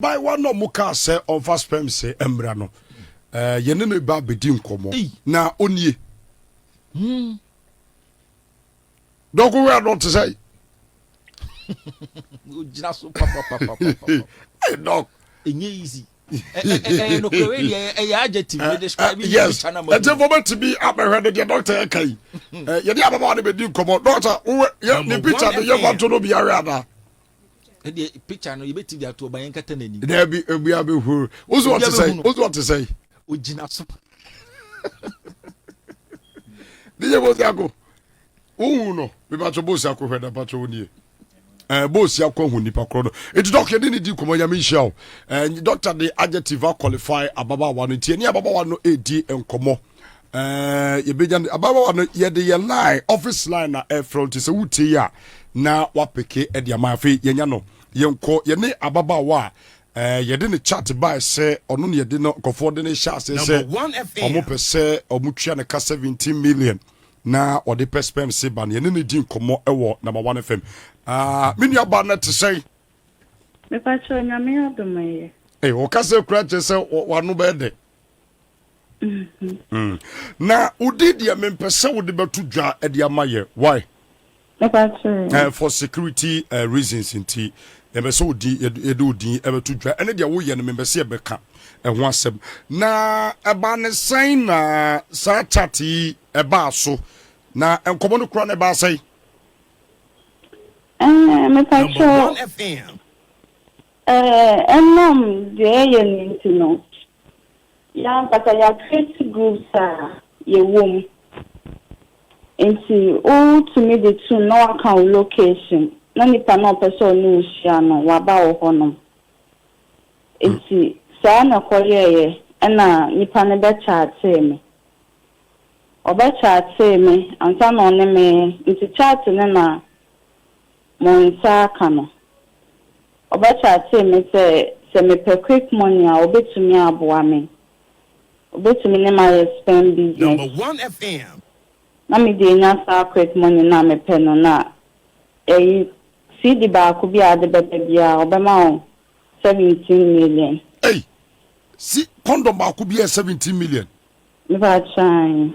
Abaayewa no a wɔkaa sɛ ɔmfa sperms mmra no, yɛne no ba bɛdi nkɔmmɔ, na ɔnie. Hmm. Dɔko wɛ adɔ te sɛ. Ogyina so papapapapa. Hey, dɔk. Ɛnyɛ easy. Ɛyɛ nokore deɛ ɛyɛ adjective bɛ describe yi bi tana ma. Ɛti fɔ bɛ ti bi abɛhwɛ de deɛ dɔkita yɛ ka yi. Yɛde ababaawa de bɛ di nkɔmɔ dɔkita wowɛ yɛ ne picture de yɛ wɔn to no bi awɛ ada. ɛdeɛ picture no yɛbɛti de ato ɔba yɛn kata n'ani daabi obi abɛhuru woso ɔte sɛ woso ɔte sɛ ogyina so ne yɛ bɔsi ako wohu no mebatwɛ bɔsi ako hwɛ da batwɛ wo nie ɛɛ bɔsi ako ahu nipa korɔ no nti dɔkta ne ne di nkɔmɔ nyame nhyia o ɛɛ dɔkta de adjective qualify ababaawa no nti ɛne ababaawa no ɛredi nkɔmɔ ɛɛ yɛbɛnya no ababaawa no yɛde yɛ line office line na ɛfrɛ nti sɛ wotie yi a na wapeke ɛde ama afei yɛnya no yɛnkɔ yɛne ababaawa a ɛɛ yɛde ne chat bae sɛ ɔno ne yɛde no nkɔfoɔ de ne hyɛ aseɛ sɛ ɔmo pɛ sɛ ɔmo tua ne ka 17 million na ɔde pɛ spɛm se ba no yɛne ne di nkɔmmɔ ɛwɔ number one fm ah, me nuaba no te sɛn mepakyɛ onyame adom ɛyɛ ɔka sɛ kura kyerɛ sɛ wano bɛɛ dɛ Mm-hmm. Mm. na wodi deɛ mempɛ sɛ wode bɛto dwa de ama yɛ why eh, for security uh, reasons nti yɛbɛ sɛ odin yɛde odin ɛbɛto dwa ɛne deɛ woyɛ no mempɛ sɛ yɛbɛka ɛho asɛm na ɛbaa ne sɛn na saa chat yi ɛbaa so na nkɔmmɔ no kora no ɛbaa sɛn eh, mepakyɛ Enam dza yɛyɛ no ntsi no, yɛankasa yɛacreate groups a yɛwɔ mu. Ntsi wotumii dze tum na wɔakã wo location na nyimpa no a ɔpɛ dɛ ɔnye wo hyia no ɔaba wo hɔnom. Ntsi saa na ɛkɔyɛeɛ na nyimpa no bɛkyaatee me. Ɔbɛkyaatee me ansaana ɔnye me, ntsi kyaate no na mo nsa aka no. Ɔba kyaatee me sɛ sɛ mepɛ quick money a ɔbɛtumi aboa me. Ɔbɛtumi ne me ayɛ sperm business. Na me deɛ nya saa quick money no a mepɛ no na ɛyi CD baako bi a ade bɛba biara ɔbɛma wo seventeen million. Ei! Se condom baako bi yɛ seventeen million? Mepa kyeɛ aane.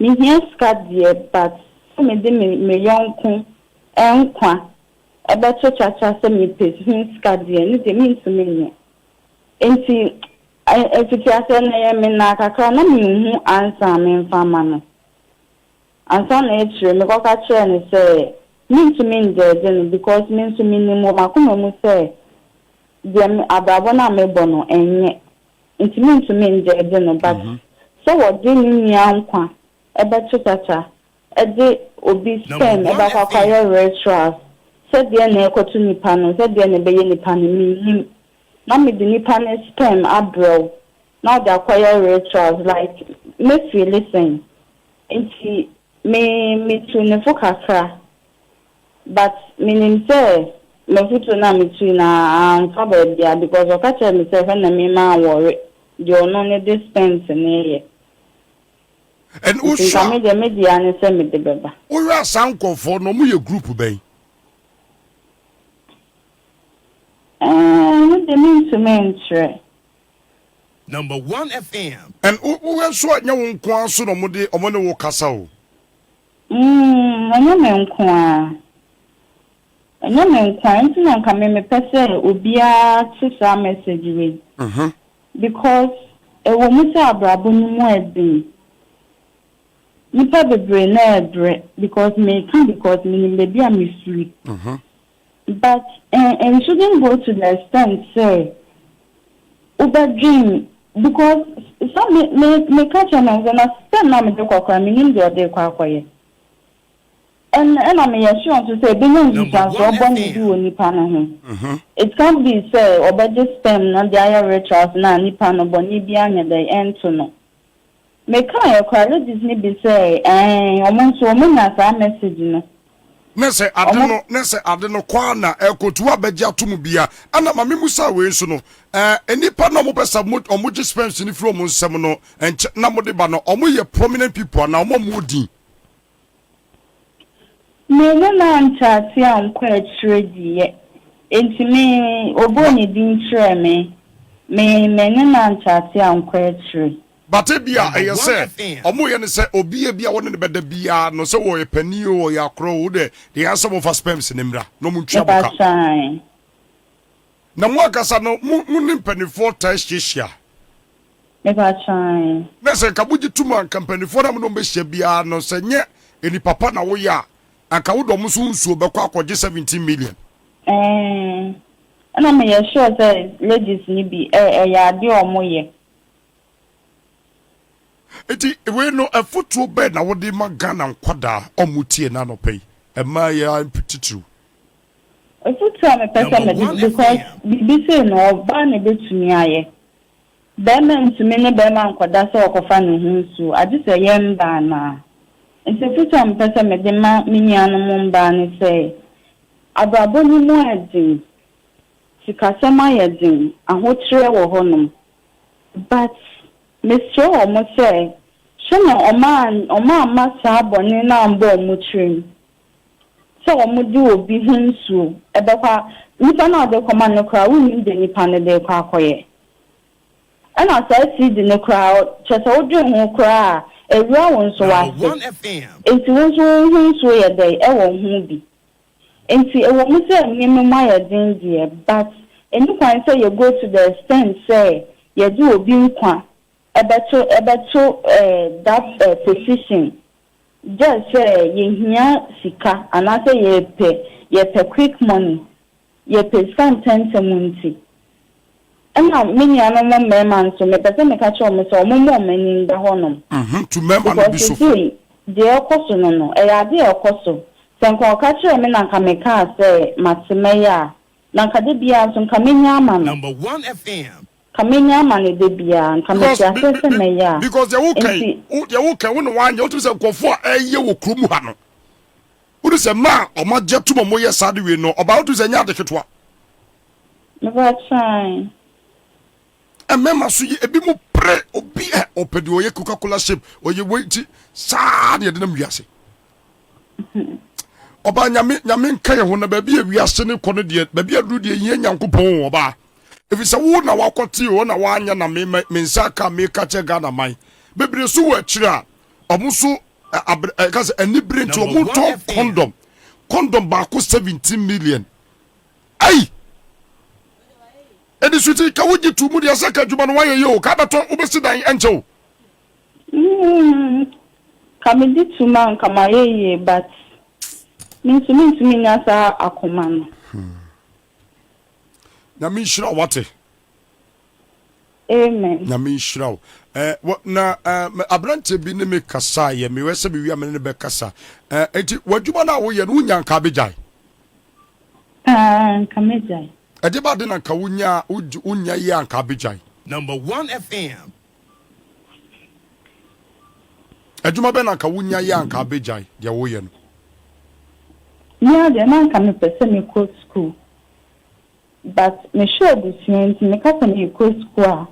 Me hia sika deɛ but sɛ me de me me yɔnko nkwa bɛto kyakya sɛ me pɛ ho sika deɛ ɛno deɛ me ntumi nyɛ nti fiti aseɛ no ɛyɛ me naa kakra na me nhu answer a me nfa ama no ansa na akyire me kɔ ka kyerɛ no sɛ me ntumi ndɛɛde no because me nso me nim wɔ makoma mu sɛ deɛ me abrabɔ no a me bɔ no ɛnyɛ Nti mentumi ngye ɛde no but sɛ wɔde ne nua nkwa ɛbɛto tata ɛde obi sperm ɛbɛakɔ akɔayɛ rituals sɛ deɛ na ɛrekɔto nipa no sɛ deɛ na ɛbɛyɛ nipa no mennim na mede nipa no sperm abrɛ wo na wode akɔyɛ rituals like mɛfeeli sɛn nti me metuu ne fo kakra But menim sɛ m'afutuo no a metui no amfa baabiara because ɔka kyerɛɛ me sɛ hwɛ na me maa wɔre deɛ ɔno ne de spent no yɛ. And Nti nka wohwɛ me deɛ me deɛ ara ne sɛ mede bɛba. a wohwɛ a saa nkorɔfoɔ no ɔmo yɛ group bɛn? Ɛɛh ɛno deɛ mentumi nkyerɛ. Number one FM. And wo wohwɛ nso a nyɛ wo nko ara nso na ɔmo de ɔmo ne wo kasa o. Umm ɛnyɛ me nkoaa. Ɛnyɛ me nkoaa nti na nka me mepɛ sɛ obiara te saa message wei because ɛwɔ mu sɛ abrabɔ no mu ɛden. Nipa bebree na ɛbrɛ because meka because menim baabi a mefiri. But eh it shouldn't go to the extent sɛ wobɛdwen because sɛ me me meka kyerɛ no sɛ na sɛ nna mede kɔ koraa menim deɛ ɔde rekɔ akɔyɛ and ɛna meyɛ sure nso sɛ ɛbɛnya nsusuansoɔ bɔne bi wɔ nipa no ho it can't be sɛ ɔbɛgye sperm no de ayɛ rituals no a nipa no bɔne biara nyɛ dɛn ɛnto no. Mekaeɛ koraa, ladies no bi sɛ ɛɛn, ɔmo nso ɔmo nya saa message no. Ne sɛ ade no, ne sɛ ade no kɔ ara na ɛrekɔtu abɛgye atom bia. Ɛna ma me mmusa wei nso no, ɛɛ nnipa no a ɔmo pɛ sɛ ɔmo ɔmo gye sperms no firi ɔmo nsam no, nkyɛ na ɔmo de ba no, ɔmo yɛ prominent people anaa ɔmo a ɔmo wɔ din? Me ne no ante ase ankɔ akyire diiɛ, enti me, ɔbɔɔ ne din kyerɛɛ me, me, me ne no ante ase ankɔ akyire. But ebia ɛyɛ sɛ ɔmo yɛ no sɛ obi a ebia wɔne no bɛda biaa no sɛ ɔyɛ panin oo ɔyɛ akorɔ oo wodɛ deɛ ayɛ sɛ ɔmo fa sperms no mmra na ɔmo ntua boka. Mepa kyɛw ae. Na mo ankasa no, mo ne mpanimfoɔ taa hyiahyia? Mepakyɛ aane. Na sɛ anka mogye tom a, anka mpanimfoɔ no a mo ne wɔn bɛhyia biara no, sɛ nyɛ nnipa pa na woyɛ a, anka wode wɔn nso wo nsuo bɛkɔ akɔgye seventeen million. Eeh na meyɛ sure sɛ ladies no bi ɛ ɛyɛ adeɛ a wɔn yɛ. Nti wei no afotuo bɛn na wode ma Ghana nkwadaa a wɔn tie nnɛ anɔpa yi, mmayeaa titiriw? Ofotu a mepɛ sɛ mede because biribi sei no ɔbaa na ɛbɛtumi ayɛ. Bɛɛma ntumi ne bɛɛma nkɔda sɛ ɔkɔfa ne ho nsuo agye sɛ ɛyɛ mbaa no a. Nti ofotu a mepɛ sɛ mede ma me nuanom mbaa ne sɛ, abrabɔ no mu ayɛ den, sikasɛm ayɛ den, ahotreɛ wɔ hɔ nom but mesrɛ wɔn sɛ hwɛ na wɔn amma saa bɔne no ammɔ wɔn tirim. sɛ wɔde obi ho nsuo bɛkɔ a, nipa no a wɔde rekɔma no no koraa wonnim deɛ nipa no de rekɔ akɔyɛ. Ɛna saa CD no koraa, kyerɛ sɛ wodwen ho koraa a, ɛwura wo nso w'ase. Enti wo nso wo ho nsuo yɛ dɛn wɔ ho bi? Enti ɛwɔ mu sɛ nneɛma mu ayɛ den deɛ, but ɛnni kwan sɛ yɛ go to the extent sɛ yɛde obi nkwa bɛto bɛto that position Gyɛɛ sɛ yɛhia sika anaasɛ yɛpɛ yɛpɛ quick money, yɛpɛ sika ntɛntɛm nti. Ɛna me nuanom mmarima nso mepɛ sɛ meka kyerɛ wɔn sɛ wɔmmɔ wɔn ani nda hɔnom. Uhmm tu mmarima no bi so fo. Because seesei deɛ ɛrekɔ so no no, ɛyɛ adeɛ a ɛkɔ so. Sɛ nka ɔka kyerɛɛ me na nka mekaa sɛ mate mɛyɛ a, na nka da biara nso nka mɛnya ama no. Number one FM Ka menya ama no da biara, nka mete aseɛ sɛ mɛyɛ a. Because deɛ woka yi, deɛ woka yi, wo na wanyɛ, wotumi sɛ nkurɔfoɔ a ɛyɛ wɔ kurom ha no, wode sɛ mmaa a wɔn agye atum a wɔyɛ saa de wei no, ɔbaa wotumi sɛ ɛnyɛ ade ketewa. Mebakyɛn. Mmarima so yi, ebi mu pere, obi ɛ, ɔpɛ deɛ ɔyɛ Coca-Cola shape, ɔyɛ wei ti, saa na yɛde nam wiase. Ɔbaa nyame, nyame nka yɛn ho na baabi a wiase no kɔ no deɛ, baabi aduru deɛ yɛn Nyankopɔn ɔbaa. efisɛ wo na woakɔtee hɔ na woanyɛ na me me nsa aka meka kyerɛ Ghana man. Bebree so wɔ akyiri a ɔmo so ɛ abre ɛka sɛ anibere nti ɔmo ntɔ kɔndɔm. Kɔndɔm baako 17 million ei! Ɛde suti ka wogye to mu deɛ sɛ ka adwuma no woayɛ yie o ka abɛtɔ wobɛsi dan ɛnkyɛ o. Mmm ka megye to mu a nka mayɛ yie but me nso mentumi nya saa akoma no. Nyame nhyira wate. Amen. Nyame nhyira wo. Eh, na eh, aberanteɛ bi ne me kasa yɛ mewɛ sɛ mewia mene ne bɛkasa. Eh, enti w'adwuma no a woyɛ no wonya nka bɛgyae? Ah, nka mɛgyae. Ɛde ba de na nka wonya wonya yɛ a nka bɛgyae? Number one FM, Adwuma bɛn na anka wunya yɛ a anka abegyae deɛ woreyɛ no? Me ara deɛ na anka mepɛ sɛ mekɔ sukuu but mehwɛ abusua nti meka sɛ merekɔ sukuu a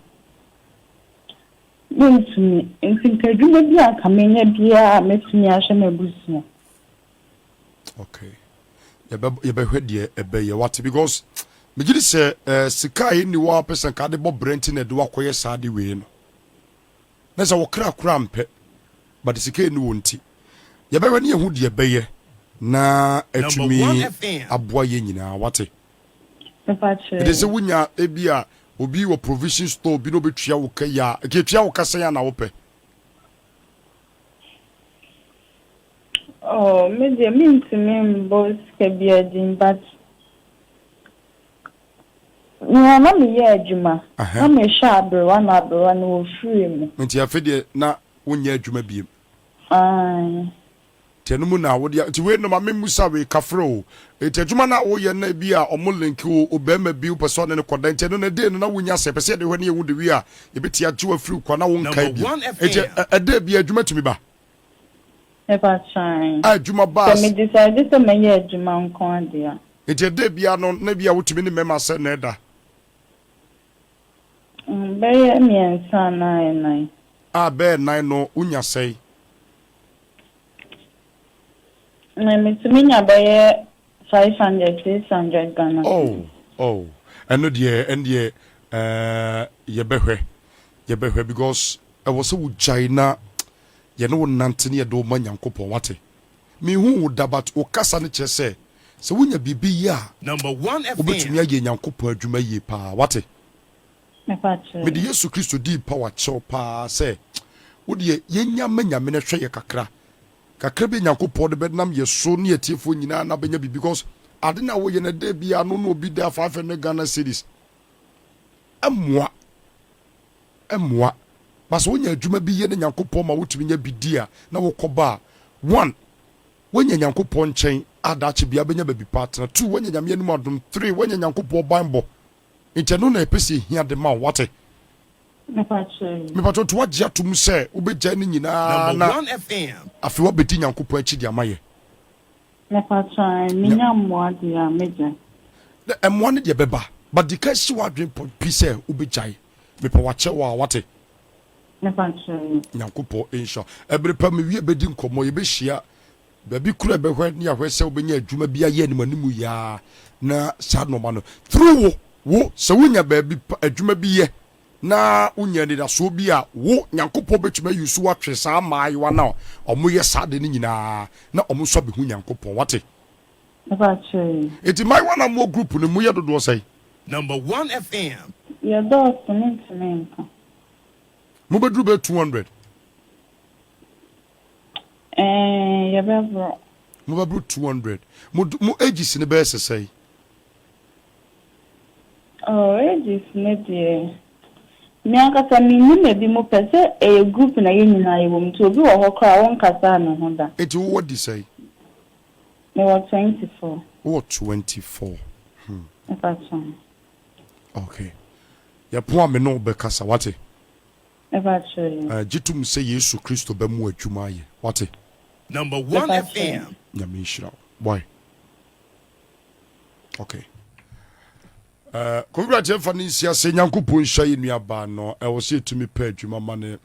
mentumi nti nka adwuma bi a anka menya biara a mɛtumi ahwɛ m'abusua. okay yɛbɛ yɛbɛhwɛ deɛ ɛbɛyɛ wate because megye di sɛ ɛɛ eh, sika a ɛnni hɔ a pɛ sɛ nka de bɔ brɛ nti na ɛde wakɔyɛ saa de wei no na sɛ wɔkra kora mpɛ but sika ɛnni hɔ nti yɛbɛhwɛ ne yɛhu deɛ ɛbɛyɛ na atumi aboa yɛ nyinaa wate ɛde sɛ wonya ebi a obi wɔ provision store bi na obɛtua wo ka yi a ɛkɛtua wo ka sɛn a na wopɛ Oh me deɛ mentumi mbɔ sika biaa din but meyɛ a na meyɛ adwuma na mehwɛ aberewa na aberewa no ɔfirii mu. Nti afe deɛ na wo nyɛ adwuma biem. Aane. Nti ɛno mu na wo deɛ nti wei no ma me musa wei kafra oo nti adwuma no a wo yɛ no na ebi a ɔmo link wo obarima bi wo pɛ sɛ ɔne no kɔda nti ɛno no ɛdee no na wo nya sɛ yɛpɛ sɛ yɛde hwɛ ne yɛ wo de wie a yɛbɛtumi agye wo afiri kwa na wo nkae bio nti ɛdee biaa adwuma tumi ba. Ɛba saan. A adwuma ba Sɛ as. me decide sɛ mɛyɛ adwuma nko ade a. Nti ɛda biara no na ebia wotumi ne mɛma sɛ na ɛda. Mm, bɛyɛ mmiɛnsa anaa ɛnan. A bɛyɛ nan no wonya sɛn? Me, metumi nya bɛyɛ. Five hundred, six hundred Ghana Oh, cedis. oh, ɛno deɛ, ɛndeɛ eh, yɛbɛhwɛ, yɛbɛhwɛ because ɛwɔ sɛ wo gyae na yɛne wo nante na yɛde wo ma Nyankopɔn, wate? Menhuu wo da but wo kasa no kyerɛ sɛ, sɛ wonya biribi yɛ a, wobɛtumi ayɛ Nyankopɔn adwuma yie paa, wate? Mepakyɛ Mede yɛn. Yesu Kristo din pawa kyerɛ wo paa sɛ, wo deɛ, yɛnya ma Nyame no hwɛ yɛ kakra Kakra bi a Nyankopɔn de bɛnam yɛ so ne atiefoɔ nyinaa na bɛnya biribi because ade no a woyɛ no da biara no na obi da 500 Ghana cedis ɛmmoa ɛmmoa but sɛ wonya adwuma bi yɛ na Nyankopɔn ma wotumi nya bi di a na wokɔ ba a one woanya Nyankopɔn nkyɛn a daakye biara bɛnya baabi pa atena two woanya Nyame anim adom three woanya Nyankopɔn banbɔ nti ɛno na yɛpɛ sɛ yɛhia de ma wo wate Mepakyɛw nti woagye atom sɛ wobɛgyae ne nyinaa na afei woabɛdi Nyankopɔn akyi de ama yɛ? Mepakyɛw eh, menya mmoa deɛ a mɛgyae? Na mmoa no deɛ bɛba, but di kan si w'adwene pɔ pi sɛ wobɛgyae. Mepɛ wakyɛ wo a, wate? Mepakyɛw. Nyankopɔn nhyira wo. Ɛbere pa mewie bɛdi nkɔmmɔ, yɛbɛhyia Baabi koro a ɛbɛhwɛ ne ahwɛ sɛ wobɛnya adwuma bi ayɛ animanimu yi ara na saa nnoɔma no through wo, wo, sɛ wonya baabi pa, adwuma bi yɛ na wonya anidasoɔ bi a, wo, Nyankopɔn bɛtumi ayi wo so atwe saa mmaayewa no a wɔyɛ saa adeɛ no nyina ara na wɔn nso abɛhu Nyankopɔn. Wate? Mepakyɛ yi. Enti mmaayewa no a mowɔ group no mu, moyɛ dodoɔ sɛn? Number one FM. Yɛdɔɔso, mentumi nka. Mobɛduru bɛyɛ two hundred. Ɛɛ, yɛbɛboro. Mobɛboro two hundred. Mo do, mo ages no bɛyɛ sesɛn? Oh, ages no deɛ, me ankasa mennim ebinom pɛ sɛ ɛyɛ group na yɛn nyinaa yɛwɔ mu nti obi wɔ hɔ koraa a wonkasaa ne ho da. Enti wowɔ di sɛn? Mewɔ twenty four. Wowɔ twenty four. Hmm. Mepa kyɛw. Okay. Yɛpo a me ne wo bɛkasa, wate? Ɛba kyerɛ yi. Eh, gye tom sɛ Yesu Kristo bɛ mo adwuma ayɛ, wate? Number one Ɛba kyerɛ yi. Nyame nhyira wo, boy. Okay. Eh, Kowura gye mfa ne nsi ase, Nyankopɔn nhyira yɛ nuabaa no, ɛwɔ sɛ yɛtumi pɛ adwuma ma ne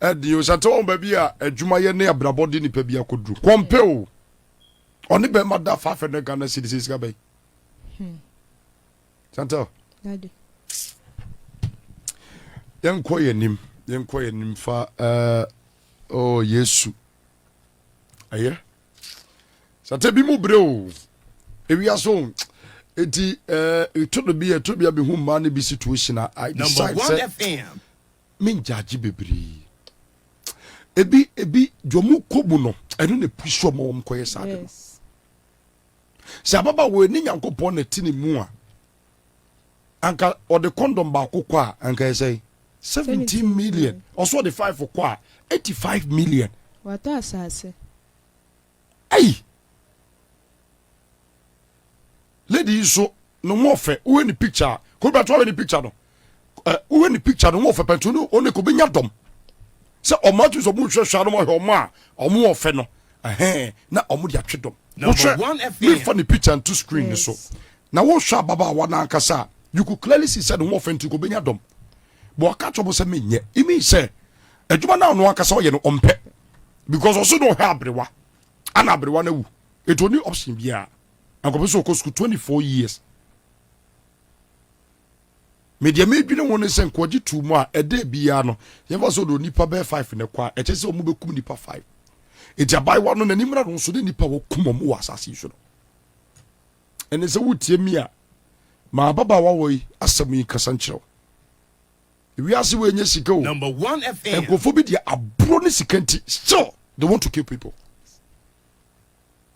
ɛde o, sante wɔn baabi a adwuma yɛ ne abrabɔ de nipa bi akɔduru, kɔmpe o, ɔne bɛrima da faafɛ no Ghana cedis sika bɛn? Hmm. Chantal. Daddy. Yɛnkɔ yɛn anim, yɛnkɔ yɛn anim fa ɛɛ eh, ɔɔ oh, Yesu. Ɛyɛ. Sata bi mu bere o. Ewia so. Eti ɛɛ eh, eto do bi ɛto bi abehu mmaa ne bi situation a I decide sɛ me ngyagye bebree. Ebi ebi deɛ ɔmo kɔ mu no ɛno na epusu ɔmo wɔn kɔyɛ saa de no. Sɛ ababaawa ɔni Nyankopɔn na ɛte ne mu a, anka ɔde kɔndɔm baako kɔ a, anka ɛsɛ 17 million. Ɔso ɔde 5 kɔ a, 85 million. Watɔ asase. Ei! Lady yi so No ho ɔfɛ wohwɛ ne picture a kò bɛ to ahwɛ ne picture no ɛ wohwɛ ne picture no ho ɔfɛ pɛn to no ɔne kò bɛ nya dɔm sɛ ɔmo atum sɛ ɔmo hwɛ hwɛ anam ahwɛ ɔmo a ɔmo ɔfɛ no ɛhɛn na ɔmo de atwe dɔm wohwɛ me fa ne picture nto screen ne so na wohwɛ ababaawa no ankasa a you could clearly see sɛ ne ho ɔfɛ nti kò bɛ nya dɔm bɔ ɔka kyerɛ ɔmo sɛ me nyɛ it means sɛ adwuma no a ɔno ankasa ɔyɛ no ɔmpɛ because ɔso na ɔhwɛ abrewa ana abrewa no awu etu ɔne option biara. Ankɔpɛ sɛ ɔkɔ sukuu twenty four years. Me deɛ medwene ho ne sɛ nkoagye tuu mu a ɛda biara no yɛmfa sɛ ɔde onipa bɛyɛ five ne kɔ a ɛkyɛ sɛ wɔn bɛkum nipa five. Eti abaayewa no n'ani mmra no nso ne nipa wɔkum wɔn wɔ asase yi so no. Ɛne sɛ wotie mi a ma ababaawa wɔ yi asɛm yi nkasa nkyerɛ wo. Wiase wei nyɛ sika o. Nkurɔfoɔ bi deɛ aburo ne sika nti still they want to kill people.